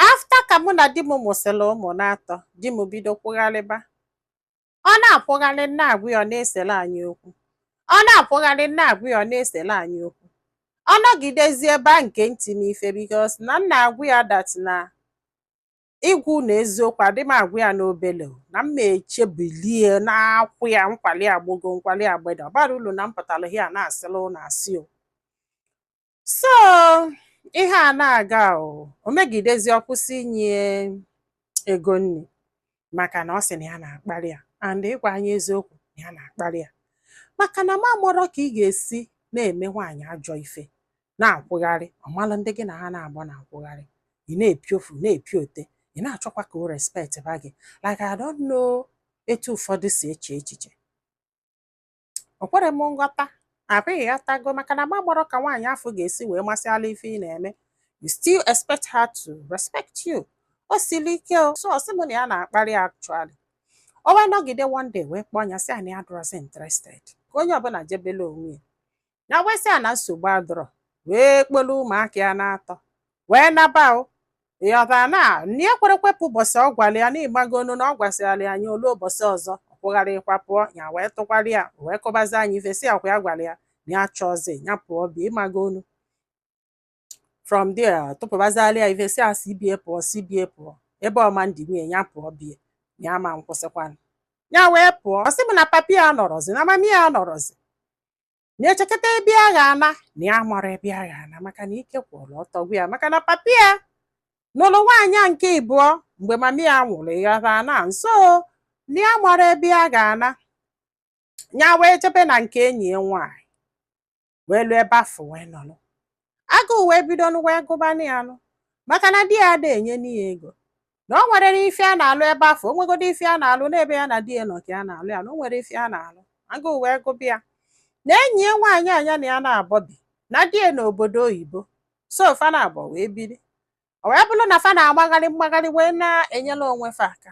after ka mụ na di m mụsịrị ụmụ n'atọ di m bido kwụgharịba ọ na-akwụgharị na-agwa ya ọ na-esere anyị okwu ọ na-akwụgharị na-agwa ya ọ na-esere anyị okwu ọ nọgidezie ebe a nke ntị n'ife because na m na-agwa ya that na ịgwa unu eziokwu adị m agwa ya n'obele o, na m echebilie na-akwụ ya nkwali agbogo nkwali agbede ọ bara ulu na m pụtara ya na-asịla ụlọ asị o so ihe a na-aga o o megidezi ọ kwụsị inye ego nri maka na ọ sị na ya na-akparị ya and ịgwa anyị eziokwu na ya na-akparị ya maka na m amọrọ ka ị ga-esi na-eme nwaanyị ajọ ife na-akwụgharị ọ malụ ndị gị na ha na-agba na-akwụgharị ị na-epiofu na-epiote ị na-achọkwa ka o respect ba gị like I don't know etu ụfọdụ si eche echiche o kwere m nghọta abi ị ghọtago maka na m amọrọ ka nwaanyị afọ ga-esi wee masịala ife ị na-eme you still expect her to respect you o siri ike o so ọ sị m na ya na-akparị actually o wee nọgide one day wee kpọọ ya sị ya na ya adịrọzi interested ka onye ọbụla jebele onwe ya ya wee sị ya na nsogbu adọrọ wee kpọlụ ụmụaka ya na-atọ wee naba o ịghọtara na nya ekwerekwa pụọ ụbọchị ọ gwara ya na ịmagonu na ọ gwasịrala ya anya olu ụbọchị ọzọ ọ kwụgharịkwa pụọ ya wee tụkwara ya wee kụbazie ya ife sị ọkwa ya gwara ya na ya achọọzi ya pụọ be ya ịmagonu from there tụpụbazịala ya ife sị ya si be ya pụọ si be ya pụọ ebe ọ ma ndinwu ya pụọ be ya ama nkwụsịkwanụ ya wee pụọ ọ sị m na papi ya anọrọzi na mami ya anọrọzi nya echekata ebe ya ga-ana na ya amarọ ebe ya ga-ana maka na ike kwụrụ ọtọ gwụ ya maka na papi ya nụrụ nwaanyị a nke ịbụọ mgbe mami ya nwụrụ ịghọta na so na ya amarọ ebe ya ga-ana ya wee jebe na nke enyi ya nwaanyị wee luo ebe afọ wee nọlụ agụụ wee bido nụ wee gụbanụ ya nụ maka na di ya ada enyenu ya ego na o nwere ife ya na-alụ ebe afọ o nwegodo ife ya na-alụ n'ebe ya na di ya nọ ka ya na-alụ ya na o nwere ife ya na-alụ agụụ wee gụba ya na enyi ya nwaanyị a nya na ya naabọ bi na di ya nọ obodo oyibo so fa naabọ wee biri o wee bụrụ na fa na-agbagharị mgbagharị wee na-enyela onwe fa aka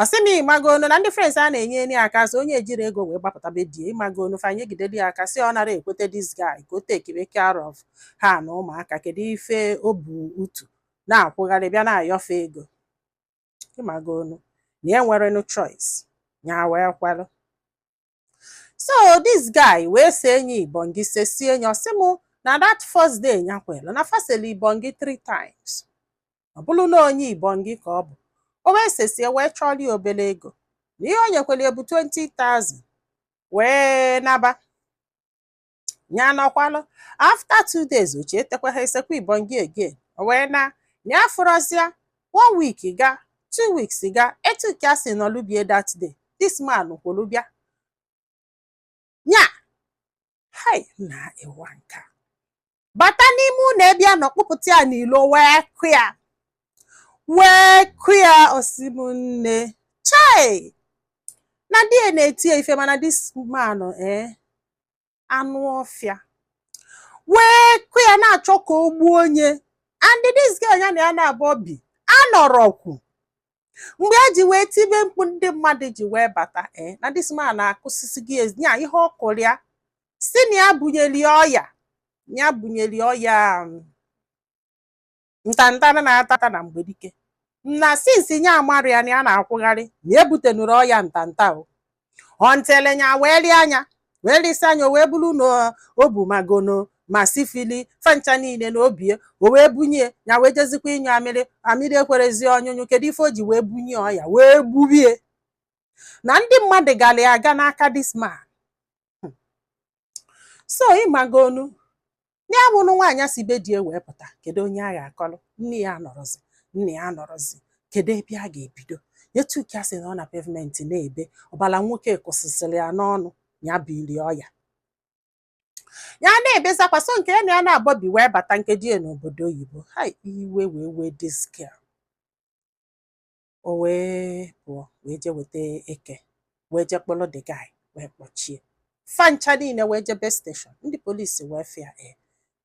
ọ sị m ịmagonu na ndị friends ya na-enyere ya aka so nya ejiri ego wee gbapụta be di ya ịmagonu fa nyegideli ya aka sị ọ nara ekwete this guy ka o takebe care of ha na ụmụaka kedu ife o bu utu na-akwụgharị bịa na-ayọ fa ego ịmagonu na ya enwerenụ choice ya wee kwelu so this guy wee see nya ibongi sesie nya ọ sị m na that first day nya kwelu na fa seli ibongi three times ọ bụrụ na onye ibongi ka ọ bụ o wee sesie wee chọrọ ya obere ego na ihe o nyekwere ya bụ 20,000 wee naba nya anọkwalụ after two days ochie etekwa ha esekwa ibon gị again o wee na ya afụrọzi ya one week gaa two weeks gaa etu ka a si nọlụ be ya that day this man kwolu bịa nya hai na ịwa nka bata n'ime ụnọ ebe ya nọ kpụpụta ya n'ilo wee kụ ya wee kụ ya ọ sị m nne chai na di ya na-eti ya ife mana this man ee anụ ọfịa wee kụ ya na-achọ ka o gbuo nya and this girl ya na ya naabọ bi anọrọkwu mgbe e ji wee tibe mkpu ndị mmadụ ji wee bata ee eh, na this man akụsisigo ya ihe ọ kụrụ ya sị na ya bunyeli ọya ya bunyeli ọya um, ntanta na-ata ata na mgbe dike na since nya amarị ya na ya na-akwụgharị na ebutenuru ọya ntanta o ọntele nya wee lee ya anya wee lesi ya anya o wee bụrụ na o bu ma gono ma sifili fa ncha niile na obie o wee bunye ya wee jezikwa ịnyụ amịrị amịrị ekwerọzi ọnyụnyụ kedu ife o ji wee bunye ọya wee gbube ya na ndị mmadụ gara ya aga n'aka this man so ị magonu ya bụ na nwaanyị si be di ya wee pụta kedu onye ya ga-akọrọ nne ya anọrọzi nne ya anọrọzi kedu ebe ya ga-ebido etu ka o si nọ na pavement na-ebe ọbala nwoke kụsịsịrị ya n'ọnụ ya bili ọya ya na-ebezi akwa so nke ya na ya naabọ bi wee bata nke di ya nọ obodo oyibo hai iwe wee wee this girl O wee pụọ wee je weta eke wee je kpụlụ the guy wee kpọchie fa ncha niile wee jebe steshọn ndị polisi wee fụ ya e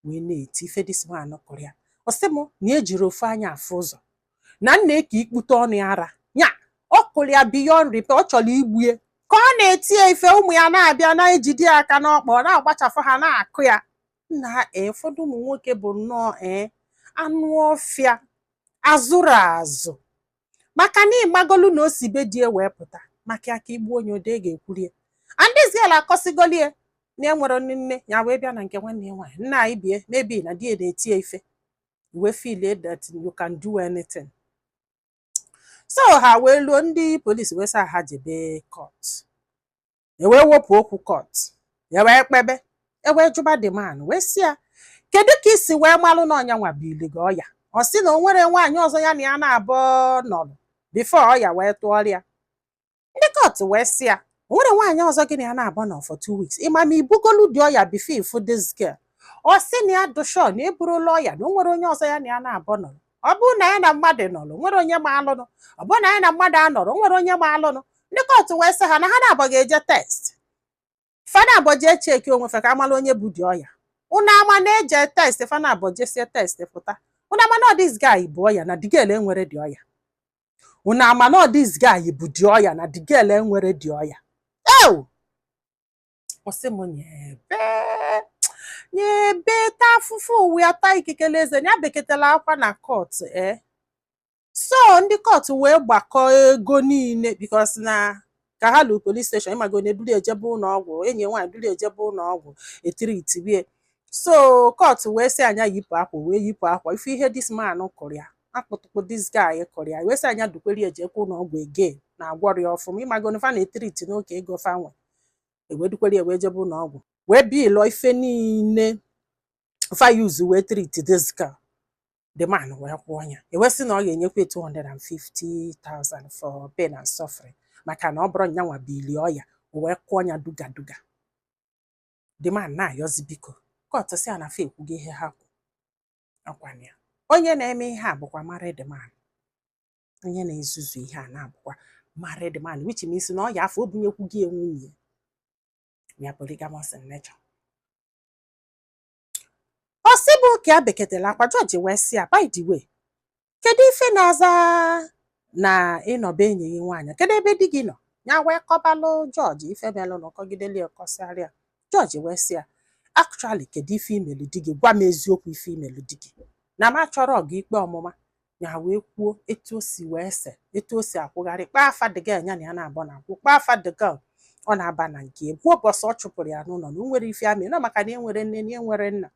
wee na-eti ife this man kụrụ ya ọ sị m na ejiri ofu anya afụ ụzọ na nna eke ikpute ọnụ ya ara ya ọ kụrụ ya beyond repair ọ chọrọ igbu ya ka ọ na-eti ya ife ụmụ ya na-abịa na-ejide ya aka n'ọkpa ọ na-agbachafụ ha na-akụ ya nna ee eh, ụfọdụ ụmụ nwoke bụ nnọọ ee eh, anụ ọfịa a zụrụ azụ maka na ị magolu na o si be di ya wee pụta maka ya ka igbu onye ode ga-ekwuri ya and this girl akọsigoli ya na enwerọ nne nne ya wee bịa na nke nwanne ya nwaanyị nna anyị bie maybe na di ya na-eti ya ife wee feel that you can do anything so ha wee luo ndị polisi wee sị ha jebe kọt e wee wepụ okwu kọt e wee kpebe e wee jụba the man wee sị ya kedu ka i si wee malụ na ọ nya nwa bili gị ọya ọ sị na o nwerọ nwaanyị ọzọ ya na ya naabọ nọlụ before ọya wee tụọrọ ya ndị kọt wee sị ya o nwere nwaanyị ọzọ gị na ya naabọ nọ for two weeks ị ma ma i bugolu the ọya before ị fụ this girl ọ sị na ya dụ sure na eburula ọya na o nwerọ onye ọzọ ya na ya naabọ nọlụ ọ bụrụ na ya na mmadụ nọrọ nwere onye ma alụnụ ọ bụrụ na ya na mmadụ anọrọ nwere onye ma alụnụ ndị court wee sị ha na ha naabọ ga-eje test fa naabọ jee cheki onwe fa ka a mala onye bu the ọya unu ama na-eje test fa naabọ jesie test pụta unu ama na ọ this guy bu ọya na the girl enwerọ the ọya unu ama na ọ this guy bu the ọya na the girl enwerọ the ọya ew ọ sị m nyebe nyebe ta afụfụ ụwa ta ikikele eze ya beketela akwa na court ee so ndị court wee gbakọ ego niile because na ka ha lu police station ị mago onye dulu ya jebe ụlọ ọgwụ enyi ya nwaanyị dulu ya jebe ụlọ ọgwụ e treatibe ya so court wee sị ya nya yipụ akwa wee yipụ akwa ị fụ ihe this man kụrụ ya akpụtụkpụ this guy kụrụ ya wee sị ya nya dukwara ya jekwa ụlọ ọgwụ again na agwọrọ ya ọfụma ị mago na fa na-etreat n'oke ego fa nwe e wee dukwara ya wee jebe ụlọ ọgwụ wee billụọ ife niile fa use wee treat this girl the man wee kwụọ ya e wee sị na ọ ga-enyekwa 250,000 for pain and suffering maka na ọ bụrọ nyanwa bu the ọya o wee kwụọ ya duga duga the man na-ayọzi biko court sị na fa ekwugo ihe ha kwu ọ kwa na ya onye na-eme ihe a bụkwa married man onye na-ezuzu ihe a na-abụkwa married man which means na ọya afụ o bunyekwugo ya nwunye ya polygamous in nature ọ sị bụ ka ya beketela akwa judge wee sị ya by the way kedu ife na-aza na ị nọ be enyi gị nwaanyị kedu ebe di gị nọ ya wee kọbalụ judge ife melụnụ ọ kọgideli ọ kọsịara ya judge wee sị ya actually kedu ife i melu di gị gwa m eziokwu ife i melu di gị na m achọrọ gị ikpe ọmụma ya wee kwuo etu o si wee se etu o si akwụgharị kpọọ afa the girl ya na ya naabọ na-akwụ kpọọ afa the girl ọ na-aba na nke egwu ụbọchị ọ chụpụrụ ya n'ụlọ na o nwere ife amị na maka na enwerọ nne na enwerọ nna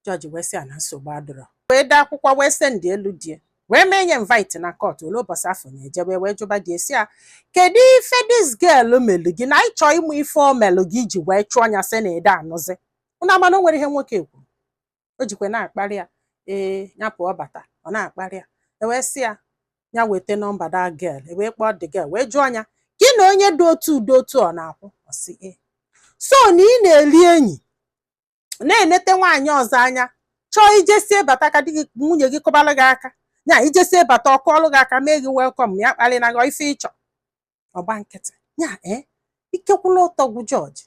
judge wee sị ya na nsogbu adịrọ wee dee akwụkwọ wee sendielu di ya wee mee nya invite na court o lue ụbọchị afụ ya ejebe wee jụba di ya sị ya kedu ife this girl melu gị na anyị chọọ ịma ife o melu gị i ji wee chụọ nya sị na ede anụzi unu ama na o nwere ihe nwoke kwuru o jikwa na-akparị ya ee ya pụọ bata ọ na-akparị ya e wee sị ya ya weta nọmba the girl e wee kpọọ the girl wee jụọ ya gị na onye dị otu dị otu ọ na-akwụ ọ sị ee so na ị na-eli enyi na-enete nwaanyị ọzọ anya chọọ i jesie bata ka di gị nwunye gị kụbara gị aka ya i jesie bata ọ kụọlụ gị aka mee gị welcome ya akparịna gị ife ị chọ ọ gba nkịtị ya ee ikekwula ụtọ gwụ judge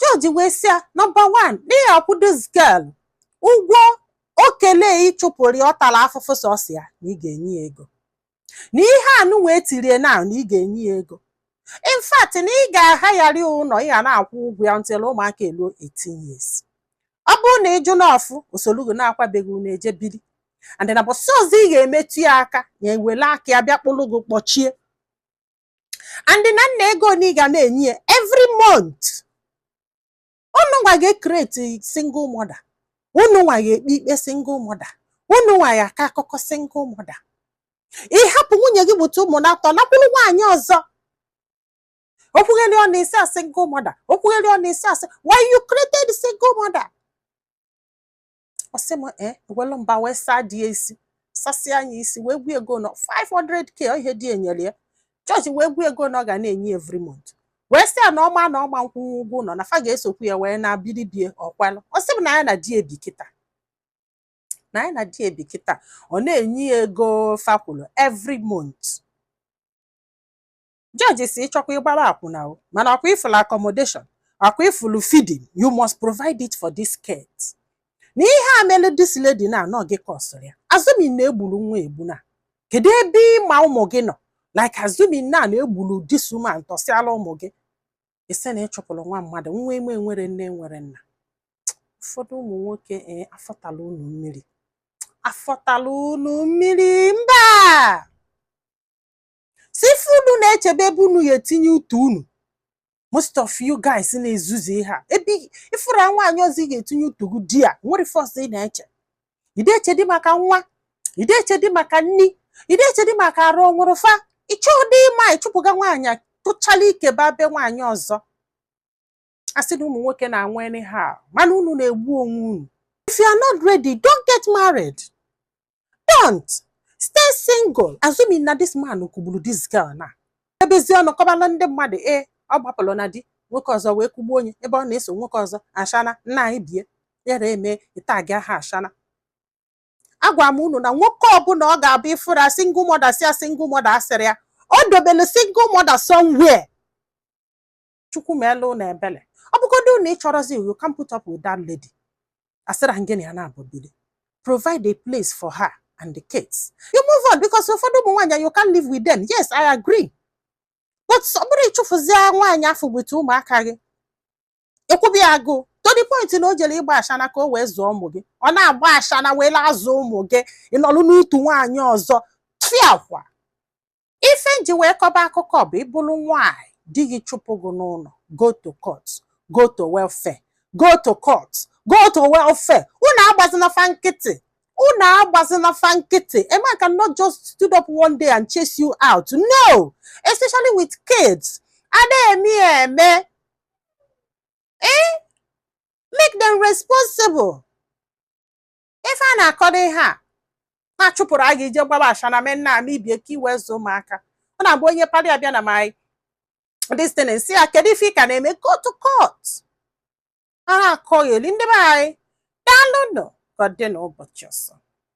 judge wee sị ya number one na ị ya-akwụ this girl ụgwọ okele ị chụpụrụ ya ọ tara afụfụ sọsọ ya na ị ga-enye ya ego na ihe anụ wee tirie na na ị ga-enye ya ego in fact na ị ga-ahayarị ya ụlọ ị ga na-akwụ ụgwọ ya until ụmụaka eluo 18 years ọ bụrụ na ị jụ n'ọfụ o solu gị nakwaa be gị unu eje biri and na bọsị ọzọ ị ga-emetụ ya aka ya ewele aka ya bịa kpụrụ gị kpọchie and na nna ego na ị ga na-enye ya every month unu nwa ga-ecreate single mother unu nwa ga-ekpe ikpe single mother unu nwa ya-akọ akụkọ single mother ị hapụ nwunye gị mụta ụmụ naatọ nakwuru nwaanyị ọzọ okwugheri ọnụ ị sị ya single mother okwugheri ọnụ ị sị ya sị while you created single mother ọ sị m ee e welu mba wee saa di ya isi sasịa ya isi wee kwuo ego na ọ 500k ọ ihe di ya nyere ya judge wee kwuo ego na ọ ga na-enye ya every month wee sị ya na ọ ma na ọ ma-akwụnwu ụgwọ ụlọ na fa ga-esokwu ya wee na biribie o kwelu ọ sị m na ya na di ya bi kịta na ya na di ya bi kịta ọ na-enye ya ego fa kwulu every month judge sị ị chọkwa ị gbara akwụna o mana ọkwa ị fụlụ accommodation ọkwa ị fụlụ feeding you must provide it for these kids na ihe a mere this lady na ọ gị kọsụrụ ya assuming na e gburu nwa a egbu na kedu ebe ị ma ụmụ gị nọ like assuming na na e gburu this woman tọsịala ụmụ gị ị sị na ị chụpụrụ nwa mmadụ nwa ị ma nwere nne nwere nna ụfọdụ ụmụ nwoke ee afọ tara unu mmiri afọ tara unu mmiri mba sọ ife unu na-eche bụ ebe unu ya-etinye utu unu most of you guys na-ezuzu ihe a ebe ị fụrụ nwaanyị ọzọ ị ga-etinye utu gị di ya nwere first ị na-eche ị dị eche dị maka nwa ị dị eche dị maka nni ị dị eche dị maka arụ ọ nwụrụ fa ị chọọdị ịma ị chụpụga nwaanyị a tụchala ike ba be nwaanyị ọzọ a sị na ụmụ nwoke na-anwụ anyhow mana unu na-egbu onwe unu if you are not ready don't get married don't stay single assuming na this man kụgburu this girl na ebezi ọnụ kọbala ndị mmadụ ee ọ gbapụrụ na di nwoke ọzọ wee kụgbuo onye ebe ọ na-eso nwoke ọzọ ashana nna anyị bie yara eme ị tag ya aha ashana agwara m unu na nwoke ọbụla ọ ga-abụ ị fụrụ a single mother sị ya single mother asịrị ya o dobelu single mother somewhere chukwu meelu unu ebele ọ bụgodu na ị chọrọzi you can't put up with that lady asịrọ m gị na ya naabọ bili provide a place for her and the kids you move on because ụfọdụ ụmụ nwaanyị you can't live with them yes i agree but ọ bụrọ ịchụfụzie nwaanyị afụ with ụmụaka gị ekwube agụụ to the point na o jere ịgba ashana ka o wee zụọ ụmụ gị ọ na-agba ashana wee azụ ụmụ gị ị nọlụ n'utu nwaanyị ọzọ tufiakwa ife nji wee kọba akụkọ bụ ị bụrụ nwaanyị di gị chụpụ gị n'ụlọ go to court go to welfare go to court go to welfare unu agbazina fa nkịtị unu agbazina fa nkịtị a man cannot just stood up one day and chase you out no especially with kids a da-eme ya eme eh make them responsible ife a na-akọdo ihe a na-achụpụrụ a ga-eje gbaba ashana men na-ama ibie ka i wee zụọ ụmụaka ọ na-abụ onye parị abịa na my this thing sị ya kedu ife ị ka na-eme go to court a na-akọgheli ndị be anyị daalụnụ ka ọ dị n'ụbọchị ọzọ